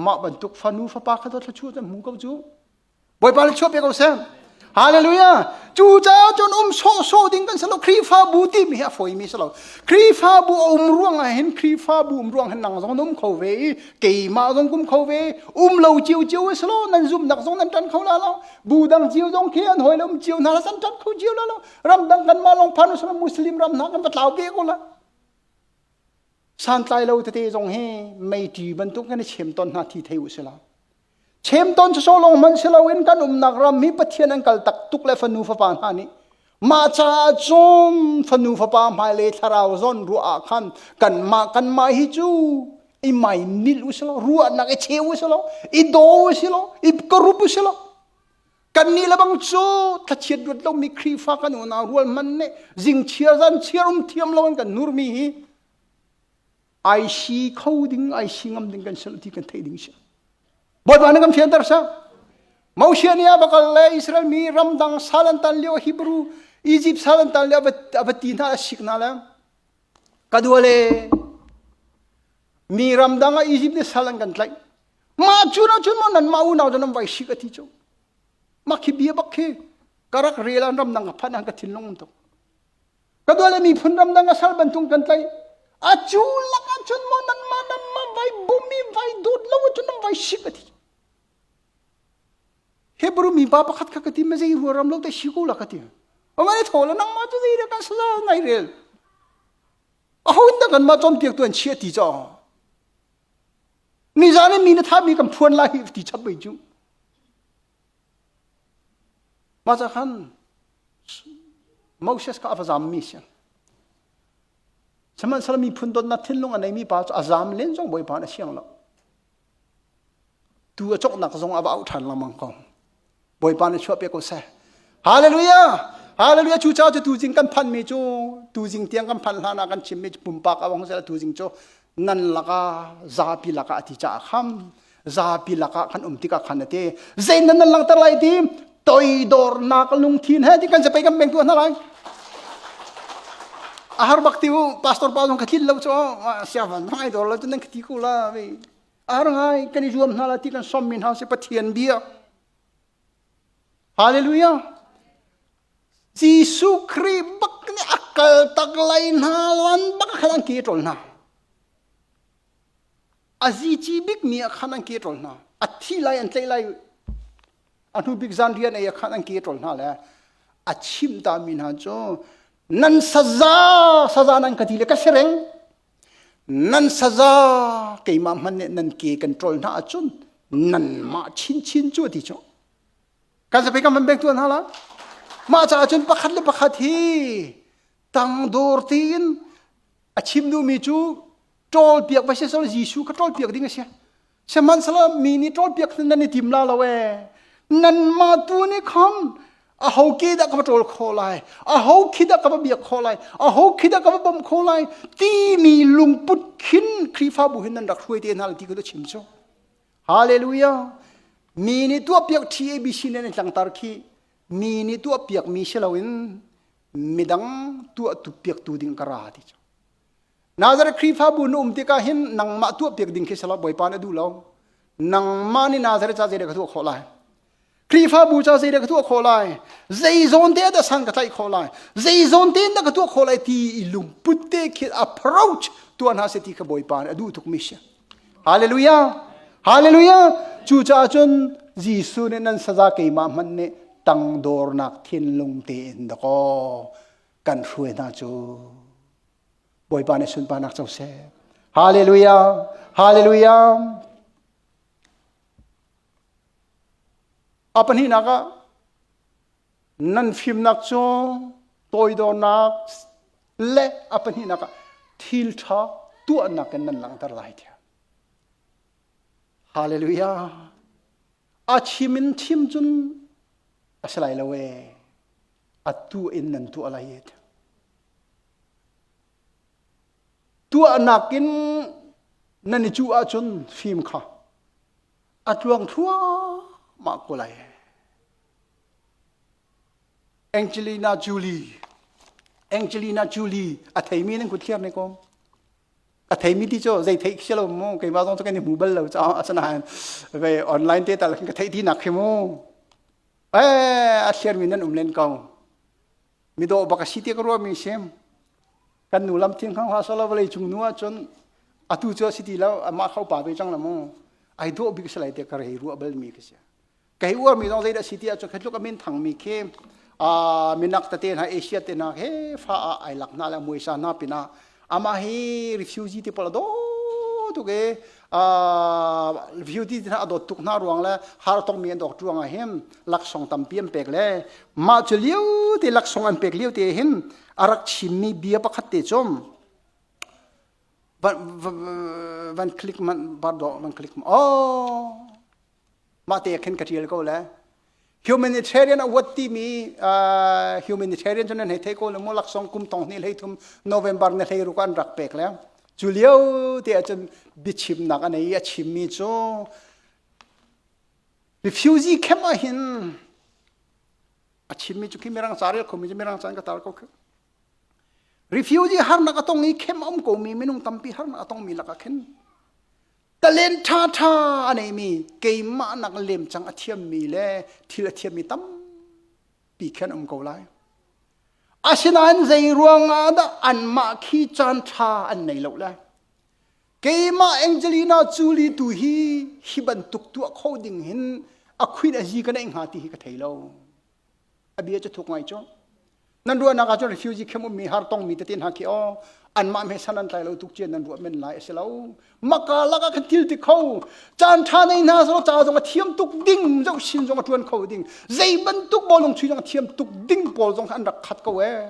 A: mah bantuk fanu fapa kha dawt thluachuah kan hmu ko cu bawipa le chuah pe ko sem hallelujah cu caah cun um sawhsawh ding kan salo khrihfabu timi hi a foimi salo khrihfabu a um ruang ah hin khrihfabu um ruang hin nang zong an um kho ve i keimah zong kum kho ve um lo cio cio e salo nan zumnak zong nan tan kho la lo bu dang cio zong khi an hoi le um cio hna la san tan kho cio la lo ramdang kanmah long phanu sama muslim ram hna kan va tlau ve ko la santlai lo tete zong hi meiti bantuk kan i chem ton hna thi thei u sila chem ton so long man si loin kan umnak ram hi pathian an kal tak tuk le fanu fapa hna nih ma cha chom fanu fapa hmai le thlarau zon ruah ah khan kan ma kan ma hi chu i mai nil usilo ruah nak i cheu usilo i do usilo i korup usilo Kannih lebang cu thlachiat ruat lomi Khrihfa kan unau rualman nih zingchiar zan chiarum thiam lo in kan nurmi hi ai si kho ding ai si ngam ding kan si ti kan theih ding si. Bawipa nih kan fianter sa. Moshe nih a bakal le Israel mi ramdang salan tan lio Hebrew Egypt salan tan lio a va ti hna a sik na le ka dua le mi ramdang a Egypt nih sal an kan tlaih Mah cu na cun maw nanmah unau nan vai si ka ti cu. Mah khi bia bak khi karak rel an ram nang a phan an ka thinlung tuk. Ka dole miphun ram dang a sal bantung kan tlai. A cu lak a cun maw nanmah nanmah vai bumi vai dut lo cun nan vai si ka ti. Hebrew mi pa pakhat kha ka ti ma zei hua ram lo te si ko la ka ti. Ongane thola nang ma chu zei re ka sala ngai rel. A hun da kan ma chom piak tuan chia ti cho. Nizan in mi na thami kan phuan lai hi ti chap mai cu. Maza khan Moses kha a va zam mi siang. Sihmanhsehlaw miphun donnak thinlung a neimi pa cu a zam len zong Bawipa na siang lo. Tu a coknak zong a va auh ṭhan lengmang ko. Bawipa nih chuah piak ko seh. Hallelujah! Hallelujah! Cu caah cu tuzing kan phanhmi cu tuzing tiang kan phanh hlanah kan chimmi cu pumpak a wang sel tuzing cu nan lakah zapi lakah a ti caah kham zapi lakah kan um tikah khan a ti zein nan nan langhter lai ti toidornak lungthin he ti kan se pei kan meng tuah hna lai a har bak ti u pastor pa zong ka tlin lo cu siavan hmai dor lo cu nan ka ti ko la vei ar ngai kan i zuam hna la ti kan sommi hna si pathian bia hallelujah jesuh khrih bak nih a kal tak lai hna lan bak khan an ke ṭol hna a zici bikmi ah khan an ke ṭol hna a thi lai an tlaih lai a hnu bik zan rian ei ah khan an ke ṭol hna le a chim ta mi hna cu nan saza saza nan ka ti le ka si reng nan saza keimah hmanh nih nan ke kan ṭol hna ahcun nanmah chinchin cu a ti cu kan sapi kan van pek tuan hna la mah caah cun pakhat le pakhat hi tangdor tiin a chim duhmi cu ṭawlpiak va si selaw Jesuh kha ṭawlpiak ding a si sihmanhselaw mi nih ṭawlpiak hin nan i tim la lo ee nanmah tu nih khan aho ke dah ka va ṭawl khawh lai aho khi dah ka va biak khawh lai aho khi dah ka va bawmh khawh lai timi lungput khin khrihfabu hin nan rak hruai te hna ti ku chim cu hallelujah mi nih tuahpiak TABC nan in tlangtar khi mi nih tuahpiak mi si loin midang tuah tu piak tu ding ka ra ti cu Nazareth Khrihfabu na um tikah hin nangmah tuahpiak ding khi sala Bawipa nih a duh lo. Nangmah nih Nazareth ca zeidah ka tuah khawh lai? Khrihfabu ca zeidah ka tuah khawh lai? Zeizawn te dah san ka tlaih khawh lai? Zeizawn te dah ka tuah khawh lai ti i lungput te khi approach tuah hna seh ti kha Bawipa nih a duh tukmi si. Hallelujah! Hallelujah! Cucaah cun Jesuh nih nan saza keimah hmanh nih tangdornak thinlung tein daw. kan hruai hna cu bawipa nih sunparnak co seh hallelujah hallelujah a pahnihnak ah nan fimnak cu toidornak le a pahnihnak ah thilṭha tuahnak in nan langhter lai tiah hallelujah a chim in chim cun a si lai lo ee atu in nan tuah lai ee tuahnak in nan i cuh ahcun fim kha a tluang thluahmah ko lai Angelina Jolie Angelina Jolie a theimi nan kuthiar ne kom a theimi ti cu zei theih khi lo mu keimah zong cu kan i hmu bal lo caah asinain ve online te tal ka theih ti nak khi mu e a thliar mi nan um len ko mi do bak si ti ka ruah mi sim kan nu lam thin khang ha solo vale chung nu ah cun atu cu si ti lo amah khau pa ve chang la mu ai do bik salai te ka rei ruah bal mi ka si kei uarmi zong zeidah si tiah cu kha tluk a min thangmi khi minak tete hna asia te hna he fa ah ai lak hna le muisa hna pinah amah hi refugee ti pala dawt tuk i refugee te hna a dawt tuk hna ruang le har tongmi an dawk ruang ah hin laksawng tampi an pek le mah cu lio te laksawng an pek lio te hin a rak chimmi bia pakhat te cum van click man bardo van click oh mahte khin ka ṭial ko le humanitarian award timi uh, humanitarian cu nan hei thei ko le mu laksong kum tong hni hlei thum november na hlei ruka an rak pek le cu lio te ahcun biachimnak anei i a chimmi cu refugee camp ah hin a chimmi cu khi mirang ca rel khomi cu mirang ca in ka tar ko refugee harnak a tong i camp um komi minung tampi harnak a tongmi lakah khin ka len ṭhaṭha a neimi keimah nak lemcang a thiammi le thil a thiammi tampi khan um ko lai. Asinain zei ruangah dah anmah khi caanṭha an nei lo lai? Keimah Angelina Jolie tu hi hi bantuk tuah kho ding hin a khuin a zi ka neih hnga ti hi ka thei lo. abia cu thuk ngai cu nan ruahnak ahcun refugee camp ummi har tongmi tete hna khi aw anmah me san an tlai lo tuk cian nan ruah men lai a si lo maka lak ah kan thil ti kho caan ṭha nei hna selaw ca zong a thiam tuk ding zoh sin zong a ṭuan kho ding zei bantuk bawlung chui zong a thiam tuk ding pawl zong an rak khat ko ee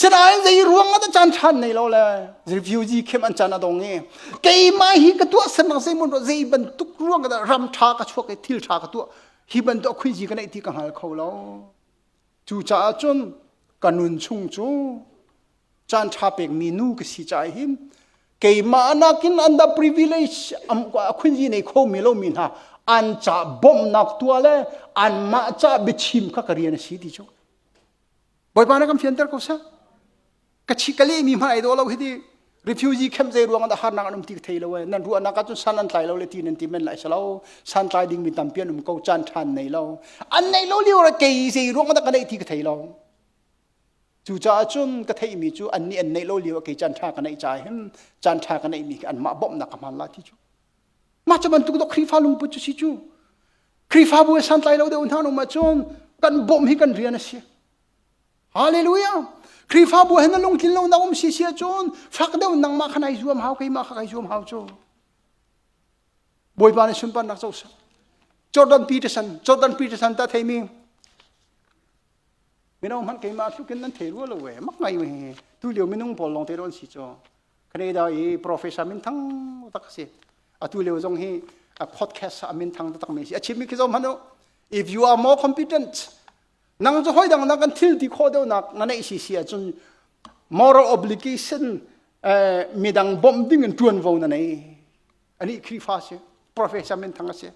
A: Sinain zei ruang ah caan ṭhan nei lo le refugee khem an caan a dong i keimah hi ka tuah sennak zei mun zei bantuk ruang ah dah ram ṭha ka chuak i thil ṭha ka tuah hi bantuk khuizi ka neih ti ka hngal kho lo. Cucaah cun ka nun chung cu caan ṭha pekmi nu ka si caah hin keimah nakin under privilege am a khuizi nei khomi lomi hna an ca bawmhnak tua le anmah ca biachim kha ka rian a si ti cu. Bawipa na kan fianter ko seh. Ka chi ka leh mi hma ai do lo hi di refugee camp zei ruang ah harnak an um ti ka thei lo eh. Nan ruahnak ah cun san an tlai lo le ti nan ti men lai se lo. San tlai ding mi tampi an um ko chan than nei lo. An nei lo lio ra kei zei ruang dah ka nei ti ka thei lo. Cu caah cun ka thei mi cu an ni an nei lo lio kei chan tha ka nei cha him chan tha ka nei mi an mah bom na ka man la ti cu. Mah cha bantuk do Khrihfa lungput cu si cu. Khrihfabu he santlai lo deuh hna nung ahcun kan bawmh hi kan rian a si. Hallelujah! Khrihfabu he na lungtlin lo na um si si ahcun fak deuh nangmah kha nai zuam hau keimah kha kai zuam hau cu. Bawipa nih sunparnak co sanh. Jordan Peterson, Jordan Peterson ta theimi mino hmanh keimah tlukin nan thei rua lo ve mak ngai mi tu lio minung pawl lawng te ron si cho Canada i professor min thang tak si atu leo zong hi a podcast a min thang tak mi si a chim mi khi zom hanu if you are more competent nang zu hoi dang nang kan thil ti kho deu nak na nei si si a chun moral obligation eh midang bom ding in tuan vo na nei ani khri fa si professor min thang si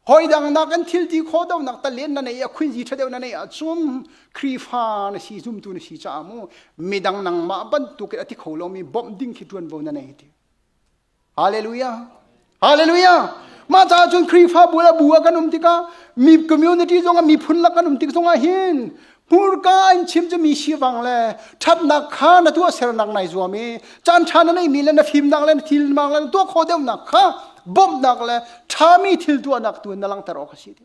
A: hoi dang nak kan thil ti kho deuh nak tal len na nei a khuin zi tha deuh na nei a chum khrifa na si zumtu na si cha mu midang nang ma ban tu ke ati kho lo mi bom ding khi tuan bo na nei ti hallelujah hallelujah ma cha chun khrifa bula bua kan um tika mi community zonga mi phun la kan um tik zonga hin hmurka in chim cu mi sivang le ṭhatnak kha na tuah sernak nai zuam i caan ṭha na neihmi le na fimnak le na thilmang le na tuah khawh deuhnak kha bawmhnak le ṭhami thil tuahnak tu na langhter awk a si ti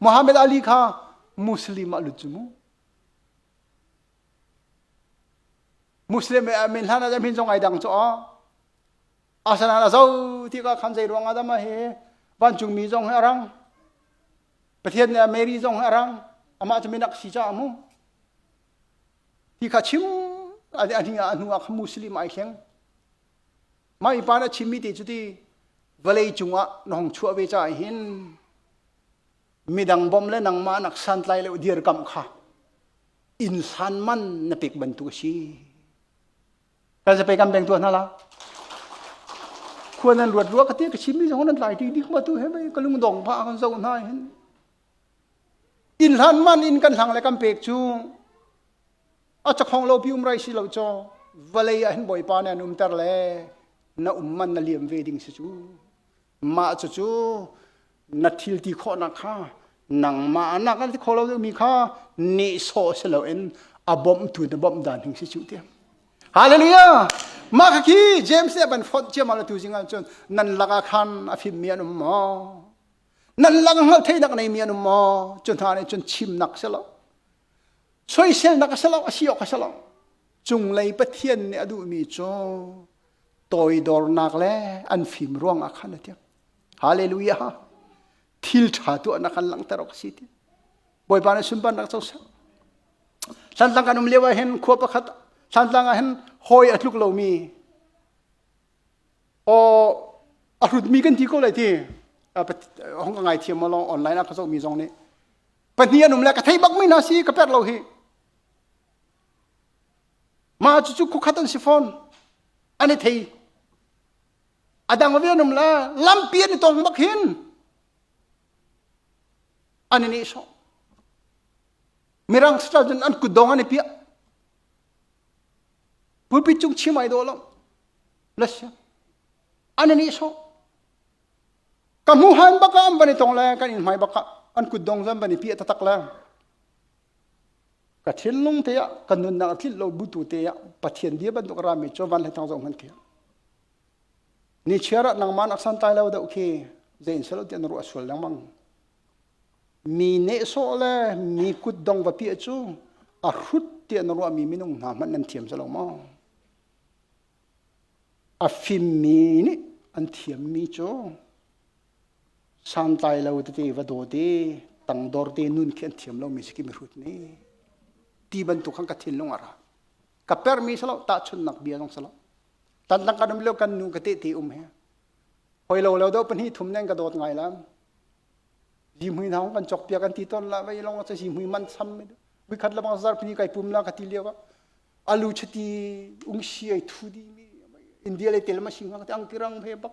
A: Muhammad Ali kha Muslim ah lut cu mu Muslim e amin hlan ah min zong ai dang cu a asanan a zo ti ka khan zei ruang ah dah ma hi vancungmi zong hi a rang pathian nih a mary zong hi a rang amah cu minak si caah mu ti kha chim ade ani ah anu ah khan muslim ai thleng mai pa na chimmi ti cu ti vawlei cungah na hong chuah ve ca hin midang bom le nangmah nak santlai le dir kam kha insan man na pek bantuk a si Tazape kan beng tua hna la. Khuan an ruat rua ka ti ka chim ni zong an lai ti dik ma tu he mei ka lung dong pa kan zo hna hin. In hlan man in kan hlang le kan pek cu a chakhong lo pi um rai si lo cho vale ah hin boipa ne an um ter le na um man na liam ve ding si cu mah cucu na thil ti khawhnak kha nangmah nak an ti kho lo mi kha nehsawh si loin a bawmhtu na bawmh dan hing si cu tiang hallelujah mah kha khi james nih ban fonh ciam ala tu jing ah cun nan laka khan a fim mi an um maw nan lak hngal theinak nei mi an um maw cun hna nih cun chimnak si lo soiselnak si lo a si awk a si lo cunglei pathian nih a duh mi cu toidornak le an fim ruangah khan a tiang hallelujah thil tha tuahnak kan langhter awk si ti bawipa na sunparnak co ser thlantlang kan um lio ah hin khua pakhat thlantlang ah hin hoi a tluk lomi o a hrutmi kan ti ko lai ti hong ka ngai thiam mo long online ah ka sok mi zong nih pahnih an um le ka thei bak mi na si ka per lo hi Mah cucu khukkhat an si fawn. An i thei. A dang ve an um la lampi an i tong bak hin an i neh sawh. Mirang sal cun an kut dong an i piah. Pulpit cung chim ai daw lo. Lasya. An i neh sawh. Ka hmu han baka an ban i tong le kan in hmai baka an kut dong zan ban i piah tatak le. Ka thinlung te ah ka nunnak a tlinh lo bu tu te ah Pathian bia bantuk a rami cu van le thang zong hman thiam. Ni chiar ah nangman aksan tai lo deuh khi zein selo ti an ruah sual lengmang. Mi nehsawh le mi kutdong vapi cu a hrut ti an ruahmi minung hna hmanh nan thiam selo maw? A fimmi nih an thiammi cu Santlai lo tete va daw te, tangdor te nun khi an thiam lomi si ki mihrut ni. Ti bantuk khan ka thinlung ara. Ka permi salo, tahchunnak bia zong salo. Tan tang kan um lo kan nu ka te te um he. Hoi lo lo do pahnih thum nen ka dawt ngai lam. Zimhui na hong kan chok pia kan ti ton la vai long sa zimhui man sam mi. Mi khat la bang zar pini kai pum la ka ti liao ka. Alu chati ungsi ai thu di mi. India le tel ma sing ka te ang tirang he bak.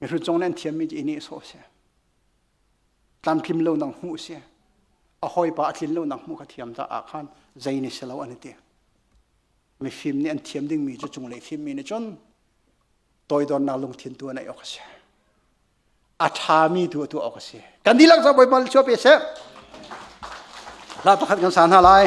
A: Mihrut zong nan thiammi cu i nehsawh seh. Tlamtlim lo nang hmuh seh. A hawipa a tlin lo nang hmuh ka thiam ta ah khan zei ni si lo an i ti. Mifim nih an thiam dingmi cu cunglei fimmi nih cun toidornak lungthin tu an ei awk a si. A ṭhami tu tu awk a si. Kan dihlak cu Bawipa cu pe seh. Hla pakhat kan sa hna lai.